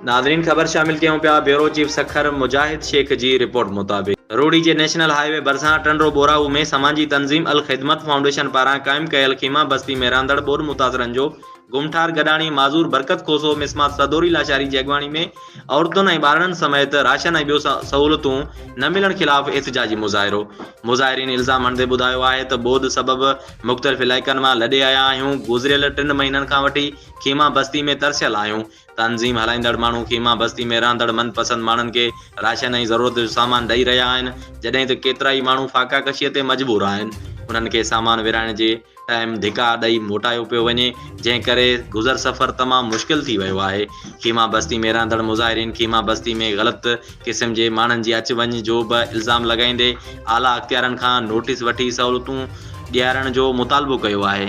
ناظرين خبر شامل ڪيون پيا بيورو چيف سکر مجاهد شيخ جي رپورٽ مطابق روھڙي جي نيشنل هاء وي ڀرسان ٽنڊو ٻوراهو ۾ سماجي تنظيم الخدمت فائونڊيشن پاران قائم ڪيل خيما بستي ۾ رهندڙ ٻوڏ متاثرن جو گم ٺار گڏاڻي معذور برڪت کوسو مسمات سدوري لاشاري جي اڳواڻي ۾ عورتن ۽ ٻارڙن سميت راشن ۽ ٻيو سهولتون نه ملڻ خلاف احتجاجي مظاهرو مظاهرين الزام هڻندي ٻڌايو آهي ته ٻوڏ سبب مختلف علائقن مان لڏي آيا آهيون گذريل ٽن مهينن کان وٺي خيما بستي ۾ ترسيل آهيون تنظيم هلائيندڙ ماڻهو خيما بستي ۾ رهندڙ من پسند ماڻهن کي راشن ۽ ضرورت جو سامان ڏئي رهيا آهن، جڏهن ته ڪيترائي ماڻهو فاقا ڪشيء تي مجبور آهن. انهن کي سامان ورهائڻ جي ٽائيم ڌڪا ڏئي موٽايو پيو وڃي، جنهن ڪري گذر سفر تمام مشڪل ٿي ويو آهي. خيما بستي ۾ رهندڙ مظاهرين خيما بستي ۾ غلط قسم جي ماڻهن جي اچ وڃ جو به الزام لڳائيندي اعليٰ اختيارن کان نوٽيس وٺي سهولتون ڏيارڻ جو مطالبو ڪيو آهي.